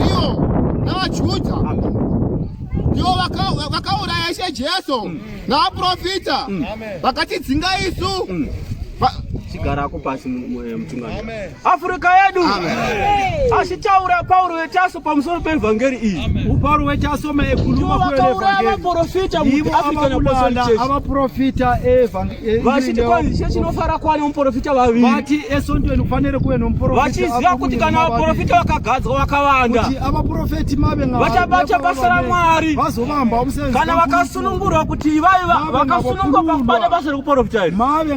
ivo navaJudha ndivo vakauraya Ishe Jesu mm. navaprofita mm. vakatidzinga isu mm. chigara ako pasi eh, mutungamiri afrika yedu achitaura pauro wetaso pamusoro peevhangeri iyi pauro wetaso maekulumaavaprofita eevhangeri Eh, vachiti kwanzishe chinofara kuva nemuprofita vaviri vati esondweni kufanire kuve nomuprofita vachiziva kuti kana vaprofita vakagadzwa vakawanda kuti avaprofeti mave vachabata basa ramwari vazovamba usenzi kana vakasunungurwa kuti ivai vakasunungurwa pakubata basa rekuprofita iri mave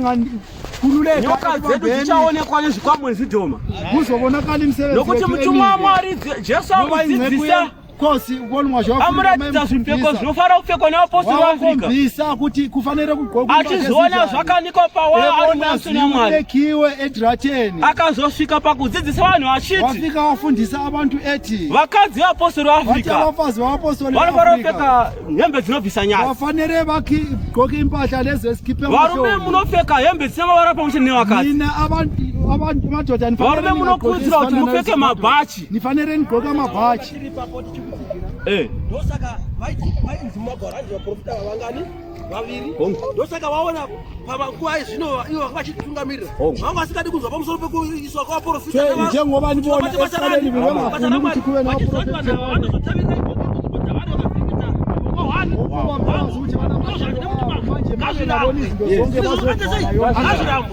nyoka dzedu dzichaonekwa nezvikwamwe nezvidhoma kuzovonakani musevenzi nokuti mutumwa wamwari jesu akudzidzisa kosi ukonwa zvaamuratiza zvipfeko zvinofara kupfekwa nevaposi vaafrikaisa kuti kufanire kugqoka achizoona zvakanikwa pawaaiaekiwe edrateni akazosvika pakudzidzisa vanhu achiti wasvika wafundisa abantu eti vakadzi vapostori vaafrika vafazi vavapostori vanofara kupfeka hembe dzinobvisa nyaya vafanire vagqoke impahla lezeskipe varume munopfeka hembe dzine mavara pamwe chete nevakadzi varume munokurudzira kuti mupfeke mabhachi Nifanere nigqoka mabhachi. Eh. Ndosaka vaiti vaiti mumagwaro anzi vaprofita vavangani vaviri. Ndosaka vaona pamanguva ezvino ivo vanga vachitungamirira. Vanga vasingadi kunzwa pamusoro pekuiswa kwavaprofita. Che njengoba nivona esikaleni vevangafuni kuti kuve navaprofita. Ngazvirambo. Ngazvirambo.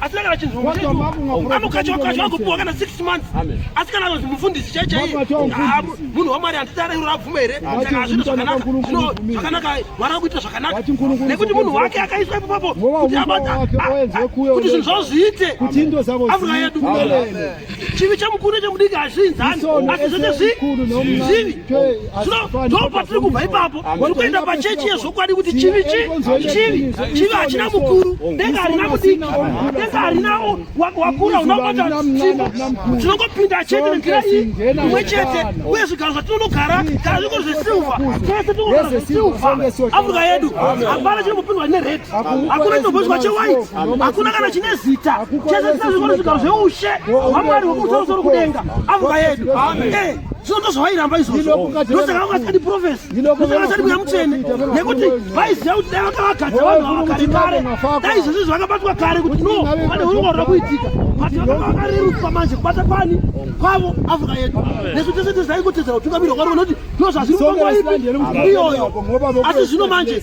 asi kana vachinzwaamukachawakati vagopiwa kana six months asi kana vanzi mufundisi chai chai munhu wamwari handidara iro rabvuma here saka hazvino zvakanaka zvino zvakanaka mwari akuita zvakanaka nekuti munhu wake akaiswa ipopapo kuti zvinhu zvavo zviite afrika yedu chivi chamukuru chemudiki hazviinzani asi zvete zvivi ndo patiri kubva ipapo tiri kuenda pachechi yezvokwadi kuti chivi chi chivi chivi hachina mukuru denga harina mudiki denga harina wakura unobata tsvimbo tinongopinda chete nenzira iyi imwe chete uye zvigaro zvatinonogara kana zviko zvesilva tese tinogara zvesilva afrika yedu hapana chiri kupindwa nered hakuna chinombozwa chewhite hakuna kana chine zita chese tisazvikona zvigaro zveushe hwamwari hwekumusoro kudenga amuka yedu eh, zvino ndozvavairamba izvozvo ndosaka vangasadi profesi ndosaka vasadi kuya mutsvene nekuti vaiziva kuti dai vakavagadza vanhu ava kare kare dai izvozvo zvakabatwa kare kuti no pane hurongwa hura kuitika vati vakanga vakareruswa manje kubata kwani kwavo afrika yedu nesu tese tezai kutedzera kutungamirwa kwari vanoti ndozvazviri panguva ipi iyoyo asi zvino manje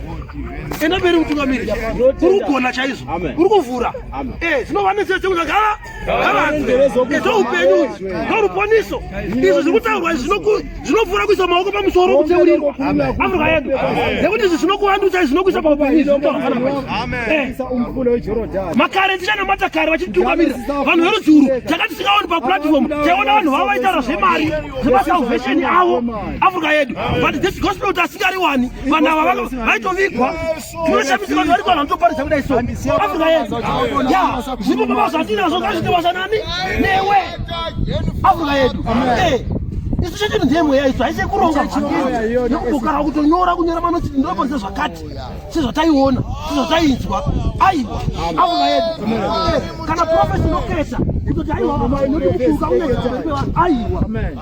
enda mberi mutungamiri uri kugona chaizvo uri kuvhura eh, dzinova netsira dzekuti gara garadzoupeyuu noruponiso izvi zviri kutaurwa izvi zvinopfuura kuisa maoko pamusoro kutseuriro afrika yedu nekuti izvi zvinokuvandutsa izvi zvinokuisa paupenyumakare tichanamata kare vachititungamirira vanhu verudzi uru tanga tisikaoni paplatform taiona vanhu vavo vaitaura zvemari zvemasalvation avo afrika yedu but this gospel tasingariwani vanhu ava vaitovigwa tinoshamisa vanhu vari vanhu vanotoparidza kudai so afrika yedu ya zvipo baba zvatinazvo ngazvitewasa nani newe afrika yedu isu chedu ndiye mweya isu haise kuronga nekubukara kutonyora kunyora manoti ndinoponisa zvakati sezvataiona sezvatainzwa aiwa afrika yedu kana profesi inoketa kutoti aiwa aiwa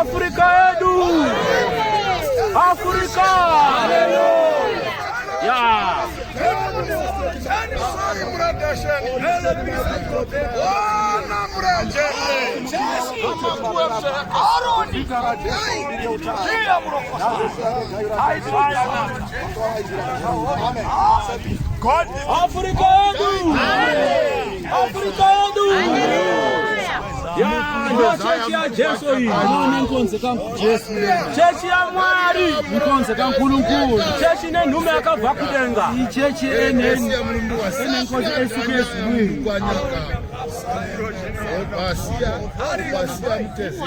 Afrika yedu, Afrika Aroni, Africa yedu. Africa yedu. Ya, chechi ya Jesu hii. Ni nkonze ka Jesu. Chechi ya Mwari. Nkonze ka Nkulunkulu. Chechi ne nhume akabva kudenga. Ni chechi ene. Ene nkonze esikesi hii. Basia, basia mtezera.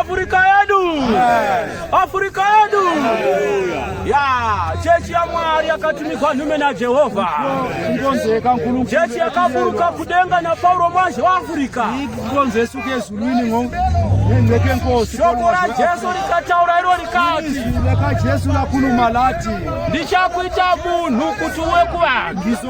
Afrika yedu, Afrika yedu ya chechi ya Mwari yakatumikwa nhume na Jehovha kungonzeka nkulu chechi yakaburuka kudenga na Paulo manje wa Afrika kungonzesu kezulwini ngo nendeke nkosi shoko la Jesu likataura iro likati laka Jesu lakhuluma lathi ndichakuita munhu kuti uwe kuvanhu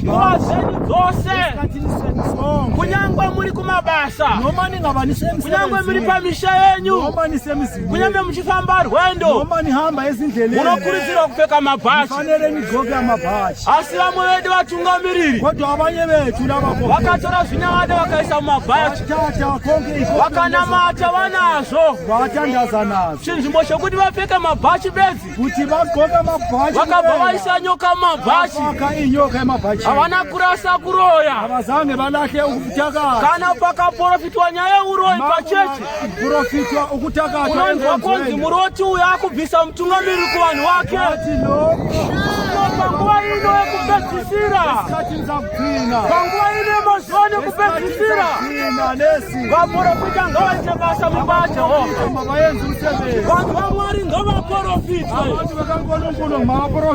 nguva dzenyu dzose kunyangwe muri kumabasa kunyangwe muri pamisha yenyu kunyangwe muchifamba rwendo munokurudzirwa kupfeka mabhachi asi vamwe vedu vatungamiriri vakatora zvinyavada vakaisa mumabhachi vakanamata vanazvo chinzvimbo chokuti vapfeka mabhachi bedzi kuti vadxoka mabhachi vakabva vaisa nyoka mabhachi inyoka yemabhachi havana kurasa kuroya havazange valahle ukutakata kana pakaprofitwa nyaya yeuroyi pachechi profitwa ukutakata unonzwa konzi muroti uyo akubvisa mutungamiri kuvanhu wake panguva ino yekupedzisira panguva ine mazuva nekupedzisira vaporofita ngavaite basa mumba yajehovha vanhu vamwari ngavaporofite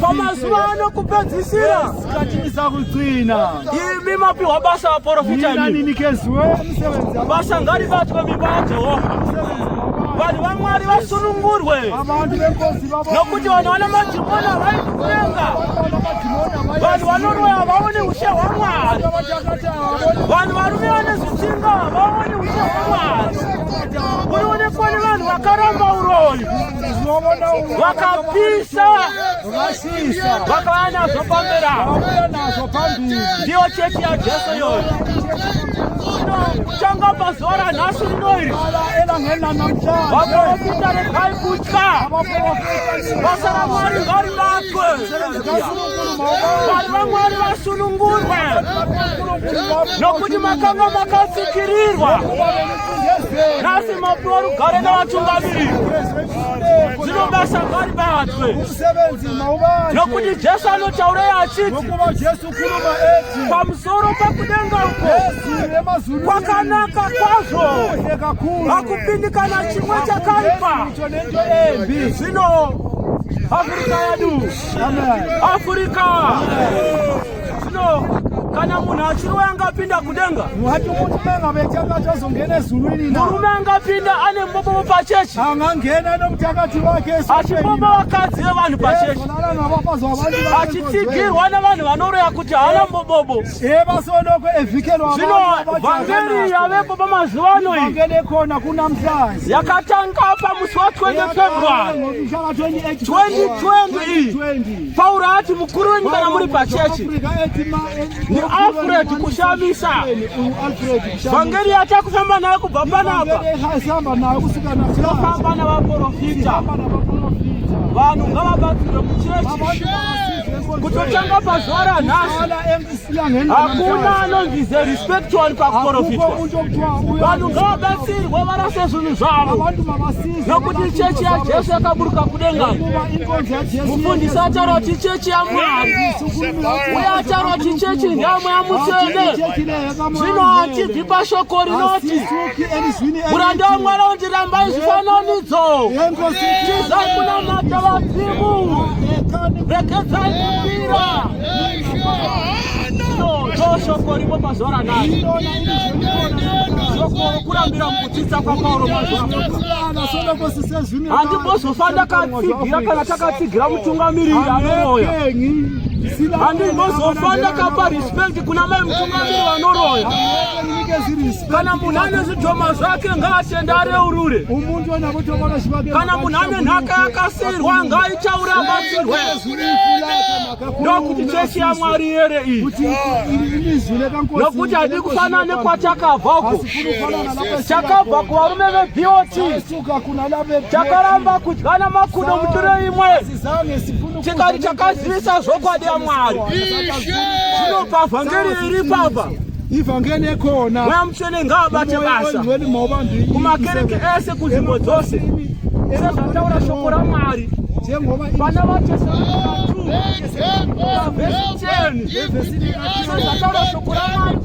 pamazuva ano kupedzisira imi mapiwa basa vaporofita basa ngaribatwe mimba yajehovha vanhu vamwari vasunungurwe nokuti vanhu vana madhimoni havai kutenga vanhu vanoroya havaone ushe hwamwari vanhu varume vane zvitsinga havaone ushe hwamwari urionekwa nevanhu vakaramba uroyi vakapisa vakauya nazvo pamberawo ndiyo chechi yajesu yoyo kutanga pazuva ranhasi rinoiri vaprofita rekai kuti basa ramwari ngarivakwe vanhu vamwari vasunungurwe nokuti makanga makatsikirirwa nhasi mapuwa rugare nevatungamiriri zvino basa ngaribatwe nokuti jesu anotaurei achiti pamusoro pakudenga uko kwakanaka kwazvo hakupindikana chimwe chakaipa zvino afurika yedu afurika zvino kana munhu achiroya angapinda kudenga wati murume ngavechanga achazongena ezulu iri na murume angapinda ane mbobobo pachechi angangena nokuti akati vake asi mbobo vakadzi vevanhu pachechi tsigirwa navanhu vanoroya kuti haana mbobobo zvino vhangeri yavepo pamazuva ano iyi yakatanga pamusi wa 20 february 2020 iyi pauro ati mukuru wenyu kana muri pachechi ndialfred kushamisa Vhangeri yatiri kufamba nayo kubva panapa tinofamba navaprofita vanhu ngavabatsirwe muchechi kutotanga pazuva ranhasi hakuna anonzi the respect one pakuprofitwa vanhu ngavabatsirwe varase zvinhu zvavo nokuti chechi yajesu yakaburuka kudenga mufundisi ataura kuti chechi yamwari uye ataura kuti chechi ndeyamweya mutsvene zvino hatibvi pashoko rinoti muranda wamwari undiramba izvifananidzo tizai kunamata vadzimu regedzai kumbira ndoshoko rimo mazuva ranai shoko rokurambira mukudzidza kwapauro mazuva handimbozofa ndakatsigira kana takatsigira mutungamiriri anoroya handimbozofa ndakapa respect Kuna mai mutungamiri vanoroya kana munhu ane zvidhoma zvake ngaatende areurure kana munhu ane nhaka yakasirwa ngaichaure abatsirwe ndokuti chechi yamwari yere iyi nokuti hadi kufanana nekwachakabva uko chakabva kuvarume vebot chakaramba kudyana makudo mutiro imwe Tikati takazivisa zvokwadi yaMwari. Zvinopa vhangeri iri papa. Ivhangeri ekona. Mweya mutsvene ngaabate basa. Kumakereke ese kunzvimbo dzose. Sezvataura shoko raMwari. Vana vacho sezvataura shoko raMwari.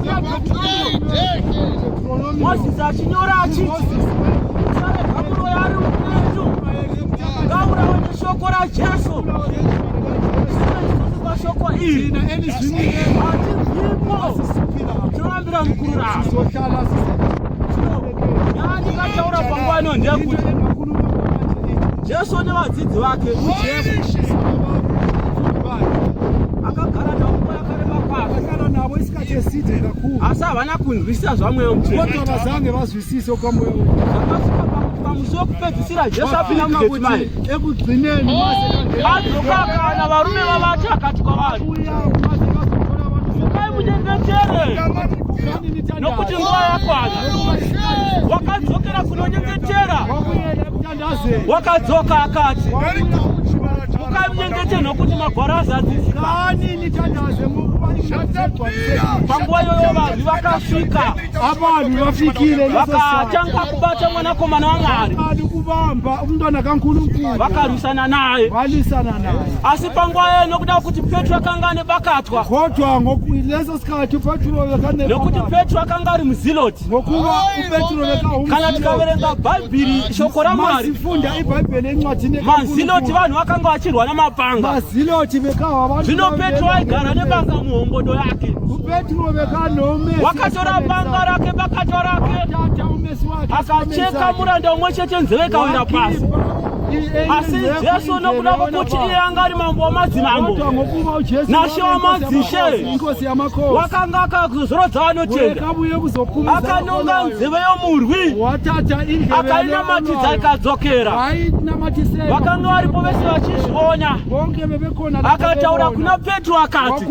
Moses achinyora achiti musaregamuro yari upenyu ngaurawe neshoko rajesu zvineisusuka shoko iri hatinzwimwo tinovambira mukurura yaandikataura panguva ino ndeyekuti jesu nevadzidzi vake akagara navo asi havana kunzwisisa zvamweya mucheavazange vazwisise kwamweya zvakasvika pamusi wekupedzisira jesu apinda mugetsimani ekugcineni azokakana varume vavati akati kwavari mukai munyengetere nokuti nguva yakwana wakadzokera kunonyengetera wakadzoka akati ukamnyengeteni nokuti magwaro azadzizikanini tandazve panguva iyoyo vanhu vakasvika avanhu vafikire vakatanga kubata mwanakomana wamwari kuvamba umntwana kankulunkulu vakarwisana naye valisana naye asi panguva iyoyo nokuda kuti petro akanga ane bakatwa kodwa leso sikhathi petro nokuti petro akanga ari muziloti ngokuva upetro vekahukana tikaverenga bhaibhiri shoko ramwari funda ibhaibheri encwadi mazinoti vanhu vakanga vachirwa namapanga mazinoti vekahwa zvino petro aigara nepanga muhombodo yake upetro vekanome wakatora panga rake bakato rake akacheka muranda umwe chete nzeve ikawira pasi asi jesu nokuda kwokuti iye anga ari mambo wamadzimambo nashe wamadzishe wakanga akazorodza anochena akanonga nzive yomurwi akainamatidza ikadzokera vakanga varipo vese vachizviona akataura kuna petro akati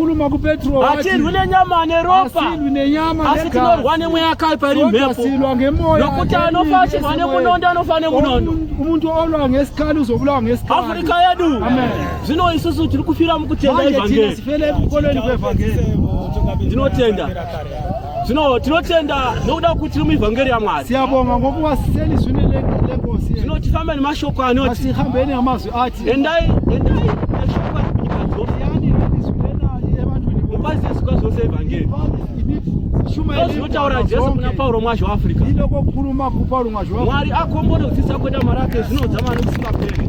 hatirwi nenyama neropa asi tinorwa nemweya akaipa iri mhepo nokuti anofa achirwa nemunondo anofa nemunondo afurika yedu zvino isusu tiri kufira mukutenda evhangeri ndinotenda zvino tinotenda nokuda kuti tiri muevhangeri yamwari siyabonga ngokuva seni zvine legosi zvino tifamba nemashoko anoti asihambei neamazwi ati endai endai neshoko rekunyika dzose yani renizwi evantuni mupazie zvikwa zvose evhangeri zvinotaura jesu kuna pauro mwazhi weafrica ilokokuruma kupauro mwazhi mwari akombore kudzisa kweda mari ake zvinodza mari kusingaperi